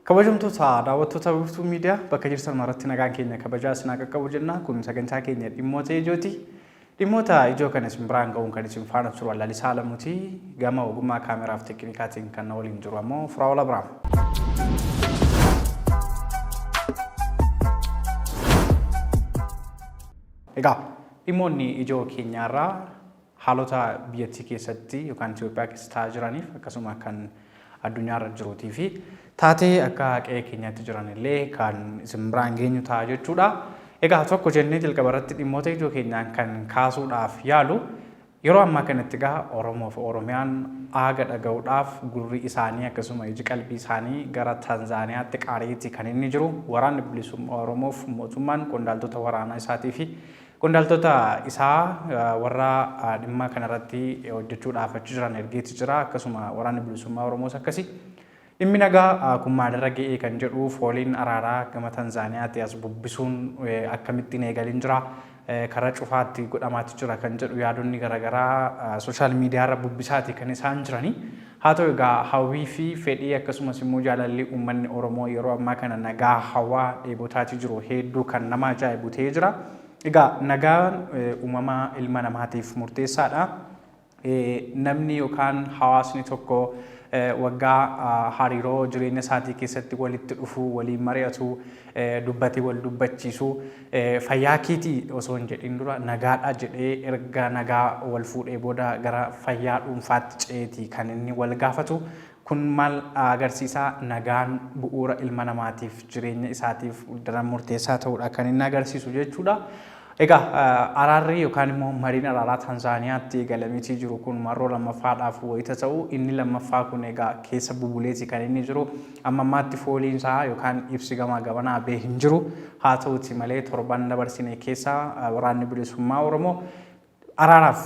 Kabajamtoota daawwattoota Wiirtuu Miidiyaa bakka jirtan maratti nagaan keenya kabajaa isin haa qaqqabu jenna. Kun sagantaa keenya dhimmoota ijooti. Dhimmoota ijoo kana isin biraan ga'uun kan isin faana turu Lalisaa Alamuuti. Gama ogummaa kaameraa fi teeknikaatiin kan na waliin jiru ammoo Firaa'ol Abiraam. Egaa Dhimmoonni ijoo keenya har'aa haalota biyyattii keessatti yookaan Itoophiyaa keessa ta'aa jiraniif akkasuma kan addunyaa irra jiruutii fi taatee akka qe'ee keenyaatti jiran illee kan isin biraan geenyu ta'a jechuudha. Egaa tokko jennee jalqaba irratti dhimmoota ijoo keenyaan kan kaasuudhaaf yaalu Yeroo ammaa kanatti egaa Oromoof Oromiyaan aaga dhaga'uudhaaf gurri isaanii akkasuma iji qalbii isaanii gara Tanzaaniyaatti qaari'eeti kan inni jiru. Waraanni Bilisummaa Oromoof mootummaan qondaaltota waraanaa isaatii fi qondaaltota isaa warra dhimma kanarratti hojjechuudhaaf achi jiran ergeeti jira. Akkasuma Waraanni Bilisummaa Oromoos akkasi. Dhimmi nagaa kun maalirra ga'ee kan jedhu fooliin araaraa gama Tanzaaniyaatii as bubbisuun akkamitti hin eegalin jira, karaa cufaatti godhamaati jira kan jedhu yaadonni garagaraa sooshaal miidiyaarra bubbisaati kan isaan jirani. Haa ta'u egaa hawwii fi fedhii akkasumas immoo jaalalli uummanni Oromoo yeroo ammaa kana nagaa hawaa dheebotaati jiru heedduu kan nama ajaa'ibu ta'ee jira. Egaa nagaan uumama ilma namaatiif murteessaadha. Namni yookaan hawaasni tokko waggaa hariiroo jireenya isaatii keessatti walitti dhufu, waliin mari'atu, dubbatee wal dubbachiisu fayyaa keeti osoo hin jedhin dura nagaadha jedhee erga nagaa wal fuudhee booda gara fayyaa dhuunfaatti ce'eeti kan inni wal gaafatu. Kun maal agarsiisa? Nagaan bu'uura ilma namaatiif, jireenya isaatiif daran murteessaa ta'uudha kan inni agarsiisu jechuudha. Egaa araarri yookaan immoo mariin araaraa Tanzaaniyaatti eegalameetii jiru kun marroo lammaffaadhaaf wayita ta'u inni lammaffaa kun egaa keessa bubuleeti kan inni jiru. Amma ammaatti fooliin isaa yookaan ibsi gamaa gamanaa bee hin jiru. Haa ta'uuti malee torban dabarsine keessa waraanni bilisummaa Oromoo araaraaf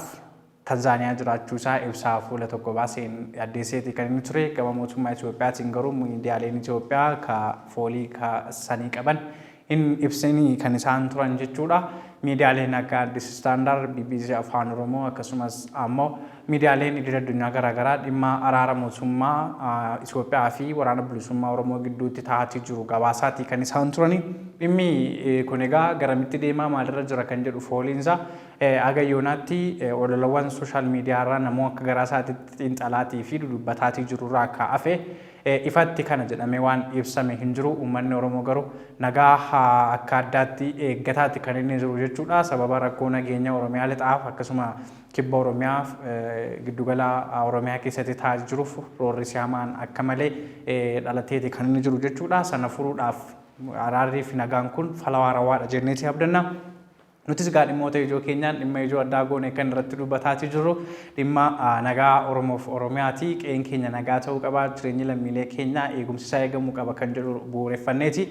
Tanzaaniyaa jiraachuu isaa ibsaa fuula tokko baaseen addeesseeti kan inni ture. Gama mootummaa Itoophiyaatiin garuu miidiyaaleen Itoophiyaa ka foolii ka sanii qaban hin ibsini kan isaan turan jechuudha. Miidiyaaleen akka Addis Standard, BBC Afaan Oromoo akkasumas ammoo miidiyaaleen idil addunyaa garaagaraa dhimma araara mootummaa Itoophiyaa fi waraana bilisummaa Oromoo gidduutti taa'atii jiru gabaasaatii kan isaan turani. Dhimmi kun egaa garamitti deemaa maalirra jira kan jedhu fooliinsaa Haga yoonaatti ololawwan sooshaal miidiyaarraa namuu akka garaasaatitti xiinxalaatii fi dudubbataatii jirurraa ka hafe ifatti kana jedhamee waan ibsame hin jiru. Ummanni Oromoo garuu nagaa akka addaatti eeggataati kan inni jiru jechuudha. Sababa rakkoo nageenya Oromiyaa Lixaaf akkasuma Kibba Oromiyaa, Giddugala Oromiyaa keessatti ta'aa jiruuf roorrisi hamaan akka malee dhalateeti kan inni jiru jechuudha. Sana furuudhaaf araarrii fi nagaan kun fala waarawaadha jenneeti abdanna. Nutis egaa dhimmoota ijoo keenyaan dhimma ijoo addaa goone kan irratti dubbataatii jirru dhimma nagaa Oromoof Oromiyaati. Qe'een keenya nagaa ta'uu qaba, jireenyi lammiilee keenyaa eegumsi isaa eegamuu qaba kan jedhu bu'uureffanneeti.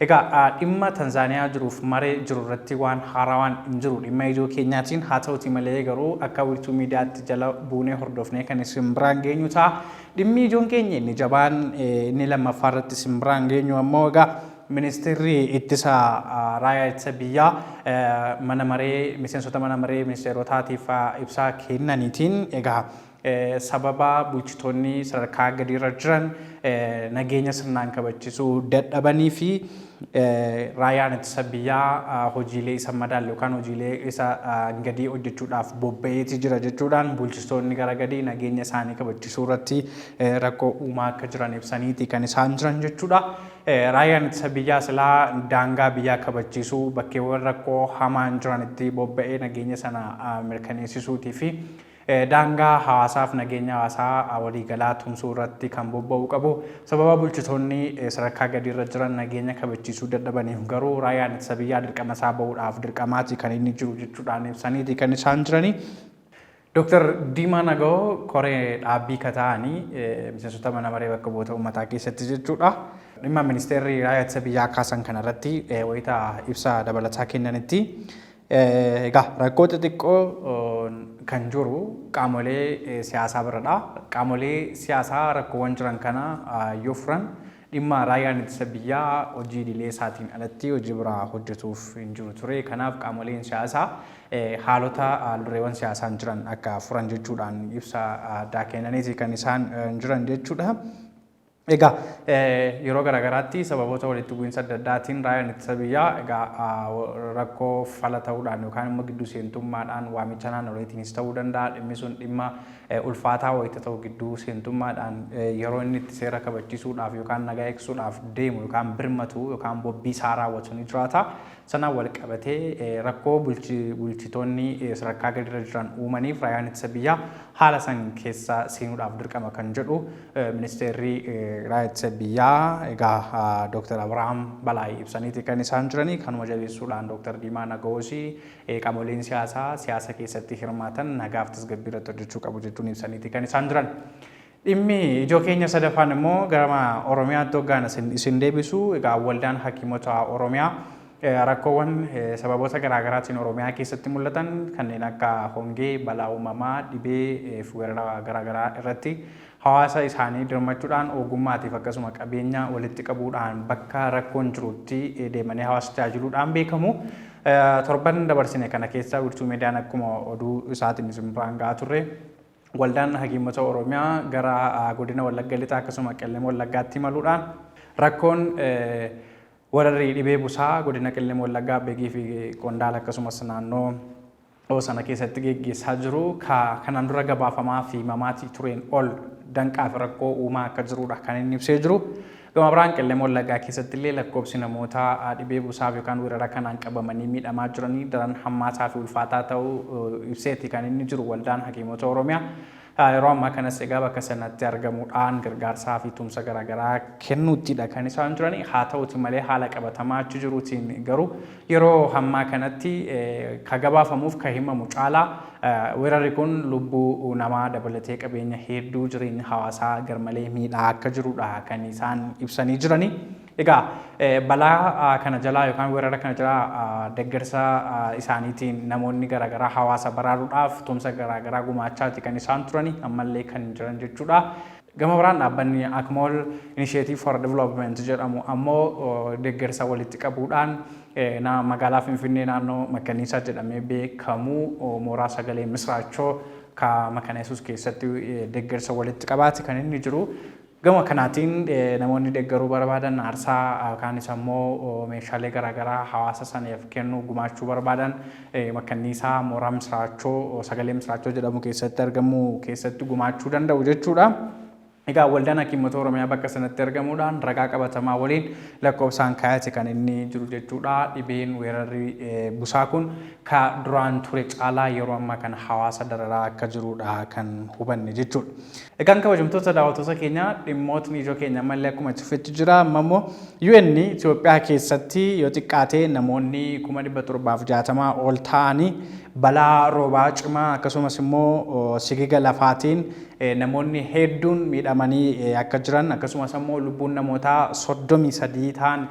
Egaa dhimma Tanzaaniyaa jiruuf maree jiru irratti waan haarawaan hin jiru dhimma ijoo keenyaatiin. Haa ta'uutii malee garuu akka wiirtuu miidiyaatti jala buunee hordofnee kan isin biraan geenyu ta'a. Dhimmi ijoon keenya inni jabaan inni lammaffaa irratti isin biraan geenyu ammoo egaa Ministeerri Ittisa Raayaa Ittisa Biyyaa mana maree miseensota mana maree ministeerotaatiif ibsaa kennaniitiin egaa sababa bulchitoonni sadarkaa gadiirra jiran nageenya sirnaan kabachisuu dadhabanii fi raayaan ittisa biyyaa hojiilee isa madaalle yookaan hojiilee isa gadii hojjechuudhaaf bobba'eeti jira jechuudhaan bulchistoonni gara gadii nageenya isaanii kabachisuu irratti rakkoo uumaa akka jiran ibsaniiti kan isaan jiran jechuudha. Raayyaan Ittisa Biyyaa silaa daangaa biyyaa kabachiisuu, bakkeewwan rakkoo hamaan jiranitti bobba'ee nageenya sana mirkaneessisuutii fi daangaa hawaasaaf nageenya hawaasaa waliigalaa tumsuu irratti kan bobba'uu qabu. Sababa bulchitoonni sadarkaa gadiirra jiran nageenya kabachiisuu dadhabaniif garuu Raayyaan Ittisa Biyyaa dirqama isaa ba'uudhaaf dirqamaati kan inni jiru jechuudhaan ibsaniiti kan isaan jiranii. Dooktar Diimaa Nagawoo koree dhaabbii ka ta'ani miseensota mana maree bakka bu'oota uummataa keessatti jechuudha. Dhimma ministeerri raayyaa ittisa biyyaa kaasan kana irratti wayita ibsa dabalataa kennanitti egaa rakkoo xixiqqoo kan jiru qaamolee siyaasaa biradha. Qaamolee siyaasaa rakkoowwan jiran kana yoo furan Dhimma Raayyaan Ittisa Biyyaa hojii idilee isaatiin alatti hojii biraa hojjetuuf hin jiru ture. Kanaaf qaamoleen siyaasaa haalota haaldureewwan siyaasaan jiran akka furan jechuudhaan ibsa addaa kennaniiti kan isaan jiran jechuudha. Egaa yeroo garaagaraatti sababoota walitti bu'iinsa adda addaatiin raayyaan ittisa biyyaa egaa rakkoo fala ta'uudhaan yookaan immoo gidduu seentummaadhaan waamicha naannoleetiinis ta'uu danda'a. Dhimmi sun dhimma ulfaataa wayita ta'u gidduu seentummaadhaan yeroo inni itti seera kabachisuudhaaf yookaan nagaa eegsisuudhaaf deemu yookaan birmatu yookaan bobbii isaa raawwatu ni jiraata. Sanaan wal qabatee rakkoo bulchitoonni sadarkaa gadiirra jiran uumaniif raayyaan ittisa biyyaa haala san keessa seenuudhaaf dirqama kan jedhu ministeerri raayyaa ittisa biyyaa egaa Dooktar Abirahaam Balaay ibsaniiti kan isaan jiranii kanuma jabeessuudhaan Dooktar Diimaa Nagawoosii Qaamoleen siyaasaa siyaasa keessatti hirmaatan nagaaf tasgabbii irratti hojjechuu qabu jechuun ibsaniiti kan isaan jiran. Dhimmi ijoo keenya sadaffaan immoo gara Oromiyaatti hoggaan isin, isin deebisu egaa waldaan hakiimota Oromiyaa eh, rakkoowwan eh, sababoota garaagaraatiin Oromiyaa keessatti mul'atan kanneen akka hongee, balaa uumamaa, dhibee eh, fi weerara garaagaraa irratti hawaasa isaanii dirmachuudhaan ogummaatiif akkasuma qabeenya walitti qabuudhaan bakka rakkoon jirutti eh, deemanii hawaasa tajaajiluudhaan beekamu. Torban dabarsine kana keessa Wiirtuu Miidiyaan akkuma oduu isaatiin isin biraan ga'aa turre waldaan hakiimota Oromiyaa gara godina Wallagga Lixaa akkasuma Qellem Wallaggaatti imaluudhaan rakkoon wararri dhibee busaa godina Qellem Wallaggaa Begii fi Qondaala akkasumas naannoo o sana keessatti geggeessaa jiru ka kanaan dura gabaafamaa fi himamaatii tureen ol danqaa fi rakkoo uumaa akka jiruudha kan inni ibsee jiru. Gama biraan Qellem Wallaggaa keessatti illee lakkoobsi namoota dhibee busaaf yookaan weerara kanaan qabamanii miidhamaa jiranii daran hammaataa fi ulfaataa ta'uu ibseeti kan inni jiru waldaan hakiimota Oromiyaa. Yeroo ammaa kanas egaa bakka sanatti argamuudhaan gargaarsaa fi tumsa garaagaraa kennuuttidha kan isaan jiran. Haa ta'uuti malee haala qabatamaa achi jiruutiin garuu yeroo ammaa kanatti ka gabaafamuuf ka himamu caalaa weerarri kun lubbuu namaa dabalatee qabeenya hedduu jireenya hawaasaa garmalee miidhaa akka jirudha kan isaan ibsanii jiranii. Egaa balaa kana jalaa yookaan weerara kana jalaa deggersa isaaniitiin namoonni garaagaraa hawaasa baraaruudhaaf tumsa garaagaraa gumaachaati kan isaan turani ammallee kan jiran jechuudha. Gama biraan dhaabbanni Akmol Initiative for Development jedhamu ammoo deggersa walitti qabuudhaan magaalaa Finfinnee naannoo Makkaniisaa jedhamee beekamu mooraa sagalee misraachoo ka Makana Yesuus keessatti deggersa walitti qabaati kan inni jiru. Gama kanaatiin namoonni deggaruu barbaadan aarsaa kaanis ammoo meeshaalee garaagaraa hawaasa saneef kennuu, gumaachuu barbaadan makkanniisaa mooraa Misiraachoo, Sagalee Misiraachoo jedhamu keessatti argamu keessatti gumaachuu danda'u jechuudha. Egaa Waldaan Hakiimota Oromiyaa bakka sanatti argamuudhaan ragaa qabatamaa waliin lakkoofsaan kaayate kan inni jiru jechuudha. Dhibeen weerarri busaa kun ka duraan ture caalaa yeroo ammaa kana hawaasa dararaa akka jirudha kan hubanne jechuudha. Egaan kabajamtoota daawwattoota keenya dhimmootni ijoo keenya ammallee akkuma itti fufetti jira. Amma immoo UN Itoophiyaa keessatti yoo xiqqaate namoonni kuma dhibba torbaaf jaatamaa ol ta'anii balaa roobaa cimaa akkasumas immoo sigiga lafaatiin namoonni hedduun miidhamanii akka jiran akkasumas immoo lubbuun namootaa soddomii sadii ta'an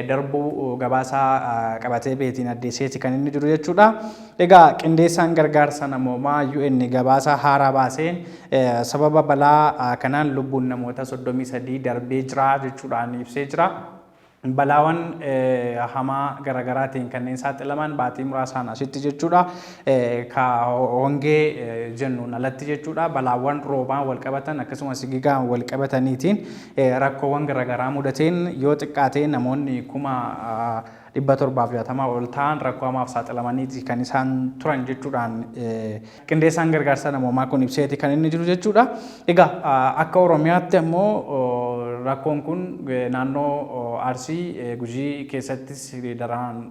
darbuu gabaasaa qabatee beetiin addeesseeti kan inni jiru jechuudha. Egaa qindeessaan gargaarsa namoomaa UN gabaasa haaraa baaseen sababa balaa kanaan lubbuun namoota 33 darbee jira jechuudhaan ibsee jira. Balaawan hamaa garagaraatiin kanneen saaxilaman baatii muraasaan asitti jechuudha. Ka hongee jennuun alatti jechuudha. Balaawwan roobaan walqabatan akkasumas sigigaan walqabataniitiin rakkoowwan garagaraa mudateen yoo xiqqaatee namoonni kuma 760 ol ta'an rakkoo hamaaf saaxilamaniiti kan isaan turan jechuudhaan qindeessaan gargaarsa namoomaa kun ibseeti kan inni jiru jechuudha. Egaa akka Oromiyaatti ammoo rakkoon kun naannoo Arsii Gujii keessattis daraan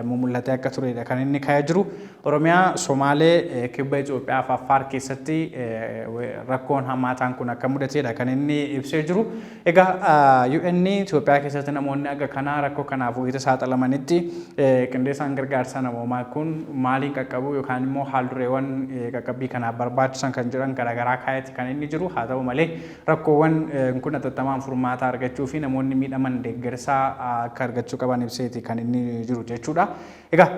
mumul'atee akka turedha kan inni ka'ee jiru. Oromiyaa, Somaalee, Kibba Itoophiyaa fi Affaar keessatti rakkoon hammaataan kun akka mudateedha kan inni ibsee jiru. Egaa UN Itoophiyaa keessatti namoonni aga kanaa rakkoo kanaaf wayita saaxilamanitti qindeessaan gargaarsa namoomaa kun maaliin qaqqabuu yookaan immoo haaldureewwan qaqqabbii kanaaf barbaachisan kan jedhan garaagaraa kaa'etti kan inni jiru haa ta'u malee rakkoowwan kun atattamaan furmaataa argachuu fi namoonni miidhaman deeggarsaa akka argachuu qaban ibseeti kan inni jiru jechuudha. Egaa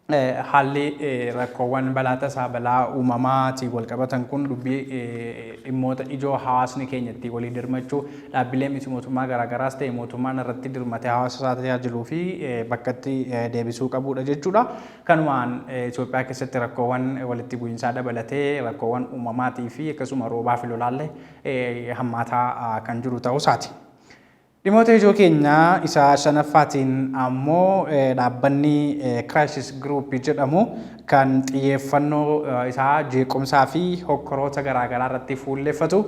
Haalli rakkoowwan balaa tasaa, balaa uumamaatiin walqabatan kun dubbii dhimmoota ijoo hawaasni keenya ittiin walii dirmachuu, dhaabbilee miti mootummaa garaagaraas ta'e mootummaan irratti dirmatee hawaasa isaa tajaajiluu fi bakkatti deebisuu qabuudha jechuudha. Kanumaan Itoophiyaa keessatti rakkoowwan walitti bu'iinsaa dabalatee rakkoowwan uumamaatii fi akkasuma roobaa fi lolaallee hammaataa kan jiru ta'uu isaati. Dhimoota ijoo keenya isa shanaffaatiin ammoo dhaabbanni Crisis Group jedhamu kan xiyyeeffannoo isaa jeequmsaa fi hokkoroota garaa garaa irratti fuulleffatu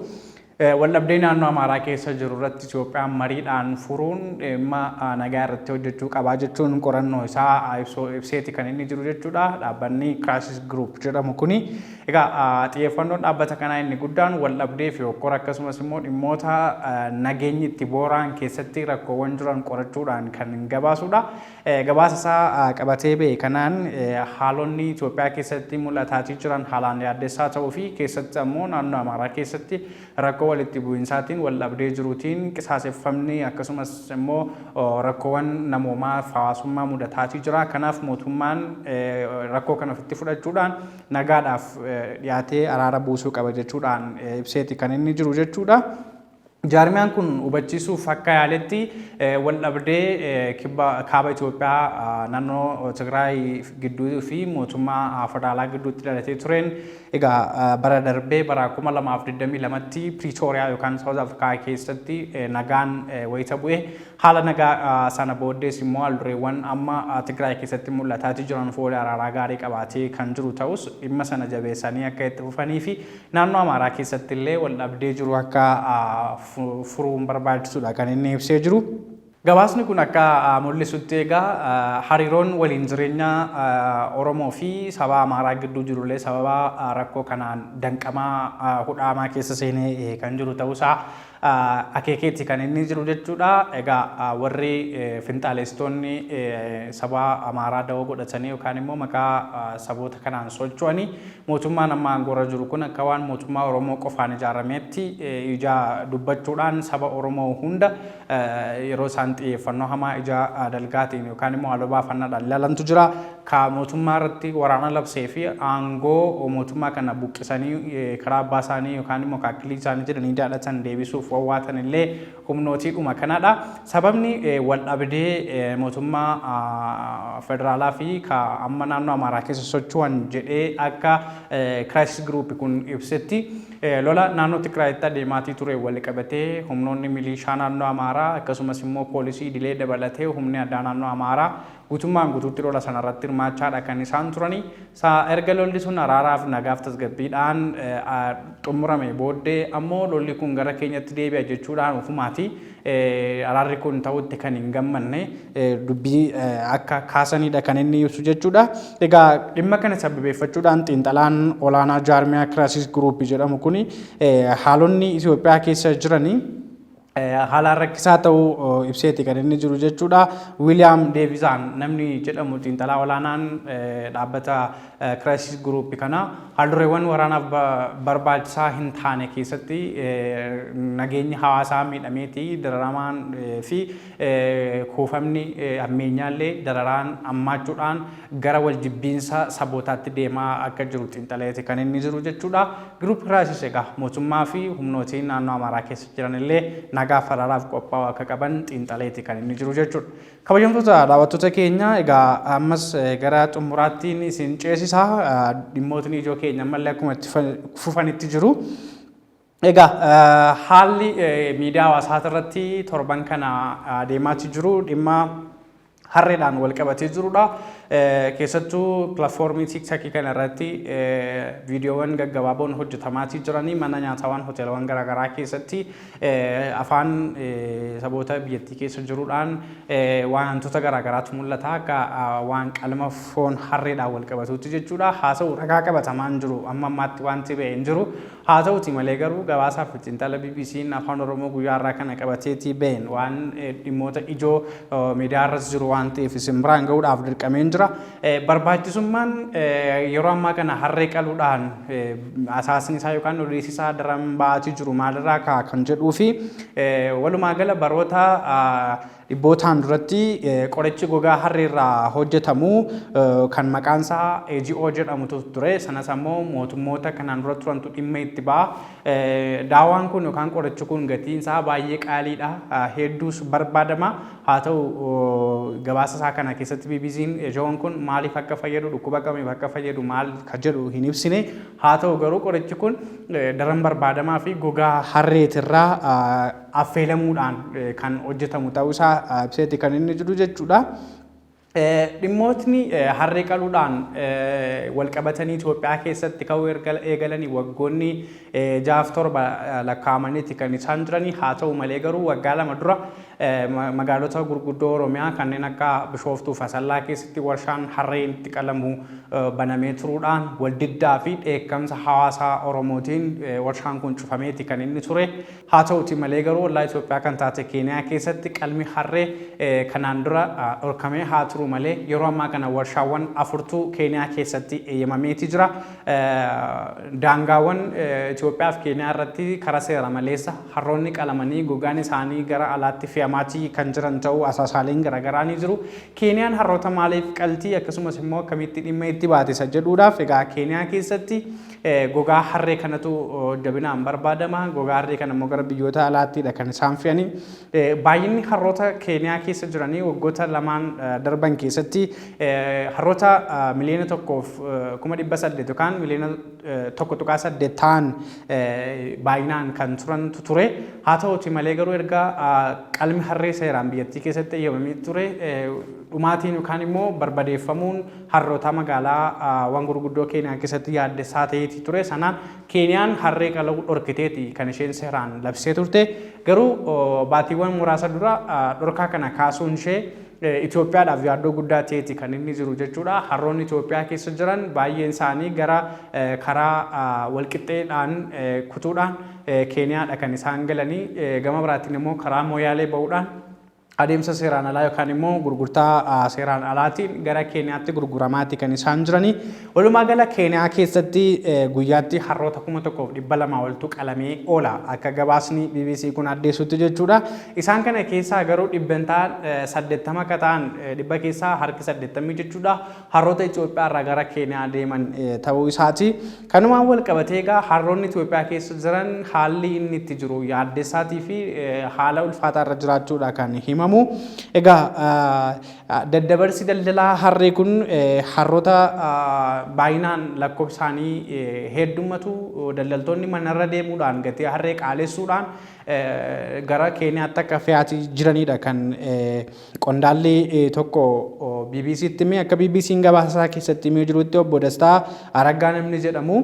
waldhabdee naannoo Amaaraa keessa jiru irratti Itoophiyaan mariidhaan furuun dhimma nagaa irratti hojjechuu qabaa jechuun qorannoo isaa ibseeti kan inni jiru jechuudha. Dhaabbanni Crisis Group jedhamu kuni Egaa xiyyeeffannoon dhaabbata kanaa inni guddaan waldhabdee fi hokkora akkasumas immoo dhimmoota nageenyi itti boora'an keessatti rakkoowwan jiran qorachuudhaan kan gabaasuudha. Gabaasa isaa qabatee ba'e kanaan haalonni Itoophiyaa keessatti mul'ataatii jiran haalaan yaaddessaa ta'uu fi keessatti ammoo naannoo Amaaraa keessatti rakkoo walitti bu'insaatiin waldhabdee jiruutiin qisaaseffamni akkasumas immoo rakkoowwan namoomaa fi hawaasummaa mudataatii jira. Kanaaf mootummaan rakkoo kana ofitti fudhachuudhaan nagaadhaaf dhiyaatee araara buusuu qaba jechuudhaan ibseeti kan inni jiru jechuudha. Jaarmiyaan kun hubachiisuuf akka yaaletti waldhabdee kaaba Itoophiyaa naannoo Tigraay gidduu fi mootummaa federaalaa gidduutti dhalatee tureen egaa bara darbee bara 2022tti Piriitooriyaa yookaan Saawuz Afrikaa keessatti nagaan wayita bu'e Haala nagaa sana booddees immoo haaldureewwan amma Tigraay keessatti mul'ataatii jiran foolii araaraa gaarii qabaatee kan jiru ta'us dhimma sana jabeessanii akka itti fufaniifi naannoo Amaaraa keessattillee waldhabdee jiru akka furuun barbaachisuudha kan inni ibsee jiru. Gabaasni kun akka mul'isutti egaa hariiroon waliin jireenya Oromoo fi saba Amaaraa gidduu jirullee sababa rakkoo kanaan danqamaa hudhaamaa keessa seenee kan jiru ta'uusaa akeekeeti kan inni jiru jechuudha. Egaa warri finxaaleessitoonni saba Amaaraa dawoo godhatanii yookaan immoo maqaa saboota kanaan socho'anii mootummaan amma aangoorra jiru kun akka waan mootummaa Oromoo qofaan ijaarameetti ija dubbachuudhaan saba Oromoo hunda yeroo isaan xiyyeeffannoo hamaa ija dalgaatiin yookaan immoo haaloo baafannaadhaan ilaalantu jira. ka mootummaa irratti waraana labsee fi aangoo mootummaa kana buqqisanii karaa abbaa isaanii yookaan immoo ka akkilii isaanii jedhanii daadhatan deebisuuf wawwaatan illee humnootiidhuma kanadha. Sababni waldhabdee mootummaa federaalaa fi ka amma naannoo Amaaraa keessa socho'an jedhee akka Crisis Group kun ibsetti lola naannoo Tigraayitti adeemaatii ture waliqabatee humnoonni miliishaa naannoo Amaaraa akkasumas immoo poolisii idilee dabalatee humni addaa naannoo Amaaraa gutummaan gutuutti lola sana irratti hirmaachaa dha kan isaan turanii. Sa erga lolli sun araaraaf nagaaf tasgabbiidhaan xumurame booddee ammoo lolli kun gara keenyatti deebi'a jechuudhaan ofumaati araarri kun ta'utti kan hin gammanne dubbii akka kaasanidha kan inni ibsu jechuudha. Egaa dhimma kana sababeeffachuudhaan xiinxalaan olaanaa jaarmiyaa Kiraasiis Guruuppii jedhamu kun haalonni Itoophiyaa keessa jiranii haalaan rakkisaa ta'uu ibseeti kan inni jiru jechuudha. Wiiliyaam Deevisaan namni jedhamu xiinxalaa olaanaan dhaabbata Kiraayisis Guruupi kana haaldureewwan waraanaaf barbaachisaa hin taane keessatti nageenyi hawaasaa miidhameeti dararamaan fi kuufamni ammeenyaallee dararaan ammaachuudhaan gara waljibbiinsa sabootaatti deemaa akka jiru xiinxaleeti kan inni jiru jechuudha. Giruupi Kiraayisis egaa mootummaa fi humnootiin naannoo Amaaraa keessa jiran illee nagaa faraaraaf qophaa'uu akka qaban xiinxaleeti kan inni jiru jechuudha. Kabajamtoota daawwattoota keenya egaa ammas gara xumuraattiin isin ceesisa dhimmootni ijoo keenya ammallee akkuma itti fufanitti jiru. Egaa haalli miidiyaa hawaasaa irratti torban kana adeemaatti jiru dhimma harreedhaan wal qabatee jirudha. Keessattuu pilaatfoormii tiiktakii kana irratti viidiyoowwan gaggabaaboon hojjetamaatii jiranii mana nyaataawwan hoteelawwan garaagaraa keessatti afaan saboota biyyattii keessa jiruudhaan wantoota garaagaraatu mul'ata akka waan qalma foon harreedhaan wal qabatuutti jechuudha. Haa ta'u ragaa qabatamaan jiru amma ammaatti wanti ba'e hin jiru. Haa ta'uutii malee garuu gabaasaa fi xiinxala BBCn Afaan Oromoo guyyaa har'aa kana qabateetii ba'een waan dhimmoota ijoo miidiyaa irras jiru waan ta'eef isin biraan ga'uudhaaf dirqameen jira. Barbaachisummaan yeroo ammaa kana harree qaluudhaan asaasni isaa yookaan odeessi isaa daran ba'aatii jiru maalirraa ka'a kan jedhuu fi walumaa gala baroota Dhibbootaan duratti qorichi gogaa harree irraa hojjetamu kan maqaan isaa AGO jedhamutu ture. Sanas ammoo mootummoota kanaan dura turantu dhimma itti ba'a. Daawaan kun yookaan qorichi kun gatiin isaa baay'ee qaaliidha. Hedduus barbaadama. Haa ta'u gabaasa isaa kana keessatti BBC'n AGO'n kun maaliif akka fayyadu dhukkuba kamiif akka fayyadu maal ka jedhu hin ibsine. Haa ta'u garuu qorichi kun daran barbaadamaa fi gogaa harreetirraa affeelamuudhaan kan hojjetamu ta'uu isaa ibseeti kan inni jiru jechuudha. Dhimmootni harree qaluudhaan walqabatanii Itoophiyaa keessatti ka'uu eegalanii waggoonni jaaf torba lakkaa'amaniiti kan isaan jiranii haa ta'u malee garuu waggaa lama dura magaalota gurguddoo Oromiyaa kanneen akka Bishooftuu fi Asallaa keessatti warshaan harreen itti qalamu banamee turuudhaan waldiddaa fi dheekkamsa hawaasaa Oromootiin warshaan kun cufameeti kan inni ture. Haa ta'uutii malee garuu ollaa Itoophiyaa kan taate Keeniyaa keessatti qalmi harree kanaan dura dhorkamee haa turu malee yeroo ammaa kana warshaawwan afurtu Keeniyaa keessatti eeyyamameeti jira. Daangaawwan Itoophiyaa fi Keeniyaa irratti karaa seera maleessa harroonni qalamanii gogaan isaanii gara alaatti fe'amaati kan jiran ta'uu asaasaaleen garaagaraa ni jiru. Keeniyaan harroota maaliif qaltii akkasumas immoo akkamitti dhimma itti baate isa jedhuudhaaf egaa Keeniyaa keessatti Gogaa harree kanatu jabinaan barbaadama. Gogaa harree kana immoo gara biyyoota alaattiidha kan isaan fe'anii. Baay'inni harroota Keeniyaa keessa jiranii waggoota lamaan darban keessatti harroota miliyoona tokkoof kuma dhibba saddeet yookaan miliyoona tokko tuqaa saddeet ta'an baay'inaan kan turantu ture. Haa ta'uuti malee garuu erga qalmi harree seeraan biyyattii keessatti eeyyamamee ture dhumaatiin yookaan immoo barbadeeffamuun Harrootaa magaalaa wan gurguddoo Keeniyaa keessatti yaaddessaa ta'eeti ture sana Keeniyaan harree qala'uu dhorkiteeti kan isheen seeraan labsee turte garuu baatiiwwan muraasa dura dhorkaa kana kaasuun ishee Itoophiyaadhaaf yaaddoo guddaa ta'eeti kan inni jiru jechuudha harroonni Itoophiyaa keessa jiran baay'een isaanii gara karaa walqixxeedhaan kutuudhaan Keeniyaadha kan isaan galanii gama biraatiin immoo karaa Mooyaalee ba'uudhaan adeemsa seeraan alaa yookaan immoo gurgurtaa seeraan alaatiin gara Keeniyaatti gurguramaati kan isaan jiranii. Walumaa gala Keeniyaa keessatti guyyaatti harroota kuma tokkoof dhibba lamaa oltu qalamee oola akka gabaasni BBC kun addeessutti jechuudha. Isaan kana keessaa garuu dhibbantaan saddeettama akka ta'an dhibba keessaa harki saddeettamii jechuudha. harroota Itoophiyaa irraa gara Keeniyaa deeman ta'uu isaati. Kanumaan wal qabatee egaa harroonni Itoophiyaa keessa jiran haalli inni itti jiru yaaddessaatii fi haala ulfaataa irra jiraachuudha kan himamu. Egaa daddabarsi daldalaa harree kun harroota baay'inaan lakkoofsaanii heddummatu daldaltoonni manarra deemuudhaan gatii harree qaalessuudhaan gara Keeniyaatti akka fe'aatii jiranidha kan Qondaalli tokko BBC'tti hime akka BBC'n gabaasa isaa keessatti himee jirutti obbo Dastaa Araggaa namni jedhamu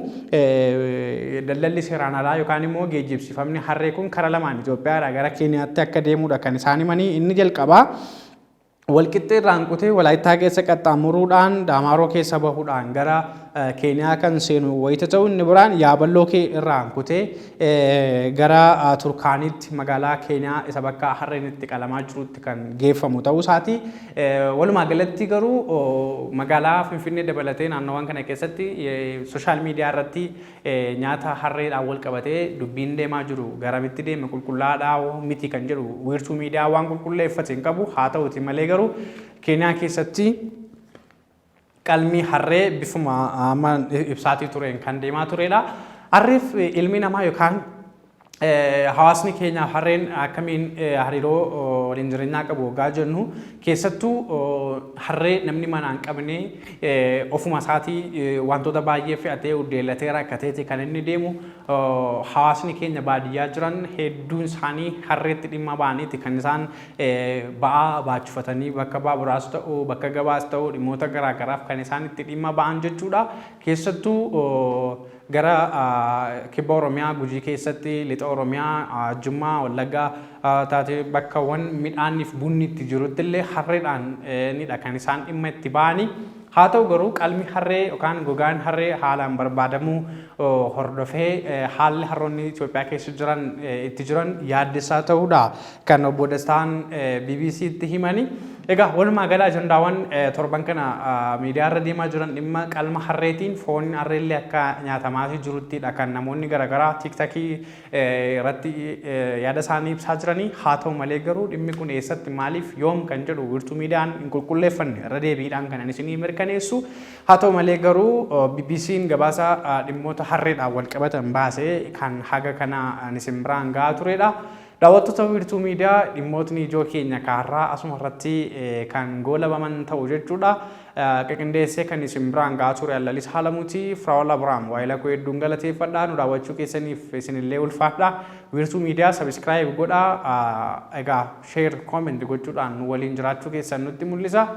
daldalli seeraan alaa yookaan immoo geejjibsiifamni harree kun kara lamaan Itoophiyaa irraa gara Keeniyaatti akka deemudha kan isaan himanii inni jalqabaa walqixxee irraan kutee walaayittaa keessa qaxxaamuruudhaan daamaaroo keessa bahuudhaan gara keeniyaa kan seenu wayita ta'u inni biraan yaaballoo kee irraan kutee gara Turkaaniitti magaalaa Keeniyaa isa bakka harreen itti qalamaa jirutti kan geeffamu ta'uu isaati. Walumaa galatti garuu magaalaa Finfinnee dabalatee naannawaan kana keessatti sooshaal miidiyaa irratti nyaata harreedhaan wal qabatee dubbiin deemaa jiru garamitti deeme qulqullaa'aadhaa miti kan jedhu wiirtuu miidiyaa waan qulqulleeffate hin qabu haa ta'uti malee garuu Keeniyaa keessatti Qalmi harree bifuma amma ibsaatii tureen kan deemaa turedha. Harreef ilmi namaa yookaan hawaasni keenya harreen akkamiin hariiroo waliin jireenyaa qabu waggaa jennu keessattuu harree namni manaa hin qabne ofuma isaatii wantoota baay'ee fe'atee uddeellatee rakkateeti kan inni deemu hawaasni keenya baadiyyaa jiran hedduun isaanii harreetti dhimma ba'aniiti kan isaan ba'aa baachufatanii bakka baaburaas ta'u bakka gabaas ta'u dhimmoota garaa garaaf kan isaan itti dhimma ba'an jechuudha. Keessattuu gara kibba Oromiyaa Gujii keessatti lixa Oromiyaa Jimmaa Wallaggaa taatee bakkawwan midhaanniif bunni itti jirutti illee harreedhaan nidha kan isaan dhimma itti ba'anii. Haa ta'u garuu qalmi harree yookaan gogaan harree haalaan barbaadamuu hordofee haalli harroonni Itoophiyaa keessa jiran itti jiran yaaddessaa ta'uudha kan obbo Dastaan BBC'tti himani. Egaa walumaa gala ajandaawwan torban kana miidiyaa irra deemaa jiran dhimma qalma harreetiin foon harreellee akka nyaatamaafii jiruttidha kan namoonni garaagaraa tiiktakii irratti yaada isaanii ibsaa jiranii haa ta'u malee garuu dhimmi kun eessatti maaliif yoom kan jedhu wirtuu miidiyaan hin qulqulleeffanne irra deebiidhaan kanan isinii mirkaneessu haa ta'u malee garuu BBC'n gabaasa dhimmoota harreedhaan wal qabatan baase kan haga kana isin biraan ga'aa turedha. Daawwattoota wiirtuu miidiyaa dhimmootni ijoo keenya kaarraa asuma irratti kan goolabaman ta'u jechuudha. Qiqindeessee kan isin biraan ga'aa ture an Lalis Halamuti. Firaa'ol Abrahaam waayila koo hedduun galateeffadha. Nu daawwachuu keessaniif isinillee ulfaadha. Wiirtuu Miidiyaa subscribe godhaa. Egaa share, comment gochuudhaan nu waliin jiraachuu keessan nutti mul'isa.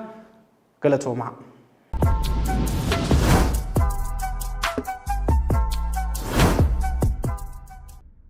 Galatoomaa.